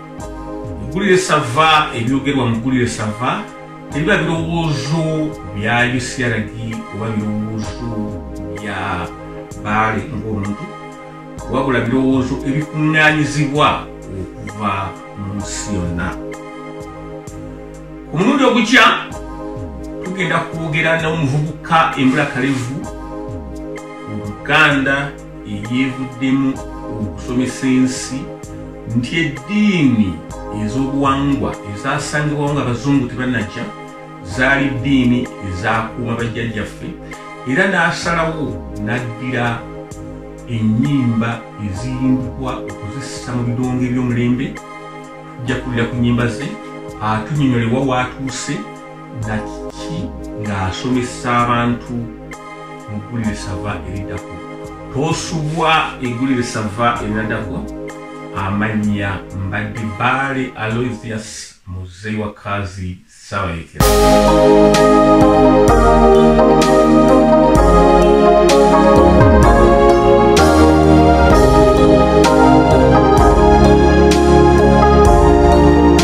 mugulire sava ebyogerwa mugulire sava tebiba birowoozo bya ucrd oba birowoozo bya baale ngaomuntu wabula birowoozo ebikuŋŋanyizibwa okuva mu nsi yonna ku mulundi ogukya tugenda kwogera n'omuvubuka embulakalevu mu buganda eyeevuddemu okusomesa ensi nti eddiini ez'obuwangwa ezasangibwawo nga abazungu tebanajja zaali ddiini ezakuuma bajjajjaffe era n'asalawo n'addira ennyimba eziyimbibwa okuzissa mu bidongo eby'omulembe tujja kulira ku nnyimba ze atunyonyolewa waatuuse na kiki ng'asomesa abantu mu ggulire sava eridako tosubwa eggulire sava erinadako amannya mbadde baale aloisius muzeyi wa kazi sabayekera